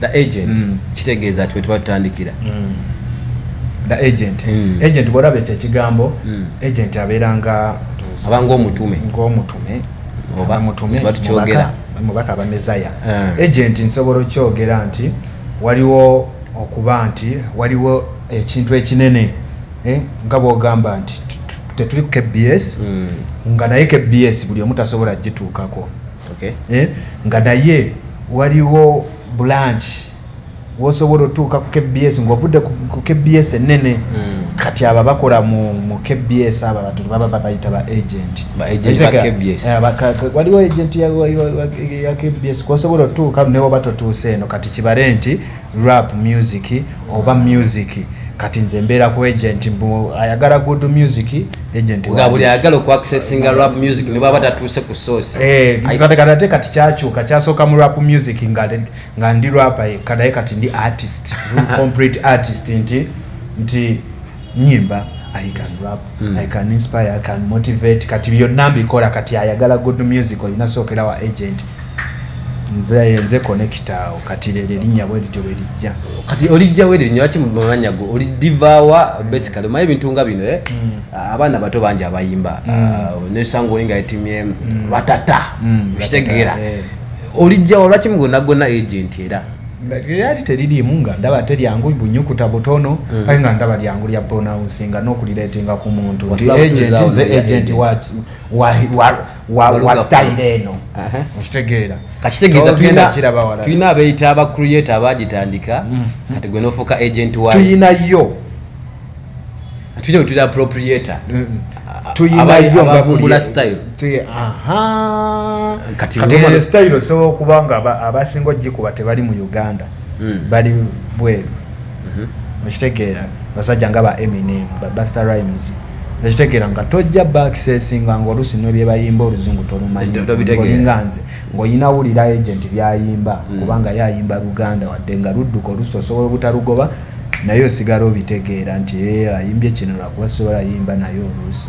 the agent mm. kitegeeza ati wetuba tutandikira mm. the agent mm. agent bwolaba ekyo ekigambo mm. agent abeera nga aba ngaomutume ngaomutume oba mutume tukyogera mubaka aba mezaya mm. agent nsobola okyogera nti waliwo okuba nti waliwo ekintu ekinene eh, nga bwogamba nti tetuli ku kbs mm. nga naye kbs buli omu tasobola gituukako okay. eh, nga naye waliwo branch wosobola otuuka ku kbs ngaovudde ku kbs enene mm. kati aba bakola mu, mu kbs aba bantu baba babayita ba agent eh, waliwo agent ya, ya, ya kbs kwosobola otuuka newoba totuuse eno kati kibale nti rap music oba music kati nze mbeera ku agent mbu ayagala good music agent nga buli ayagala oku accessinga rap music ne bwaba tatuuse ku source eh kati kati ate kati kyakyuka kyasooka mu rap music nga nga ndi rapper yekka naye kati ndi artist complete artist nti nti nyimba i can rap mm. i can inspire i can motivate kati byonna mbikola kati ayagala good music olina sookera wa agent nze nze connecta awo kati lero erinnya bwe lityo bwe lijja kati olijja we erinnya lwaki mumanya go oli divawa mm. basically omanyi ebintu nga bino eh? mm. Ah, abaana bato bangi abayimba mm. ah, nesanga oli nga etimye batata okitegeera eh. olijjawo lwaki mugona gona agent era lyali teririimu nga ndaba ate lyangu bunyukuta butono mm. kale nga ndaba lyangu lya pronouncing nga n'okulireetinga ku muntu nti agenti nze agenti wa style eno okitegeera kakitegeeza tulina abeeyita abacreate abaagitandika mm. kati gwe n'ofuuka agenti wa tuyinayo tujja kutira appropriator abavumbula style kati style osobola okuba nga abasinga ogikuba tebali mu uganda hmm. bali bweru mhm. okitegeera basajja nga ba eminem babuster rimes ekitegeera nga tojja bakisesinga nga oluusi nebyebayimba oluzungu tolumanyolinga nze ngaolina wulira agent byayimba hmm. kubanga yayimba luganda wadde nga ludduka oluusi osobola obutalugoba mm. naye osigala obitegeera nti ee ayimbye kino lwakuba sisobola yimba naye oluusi.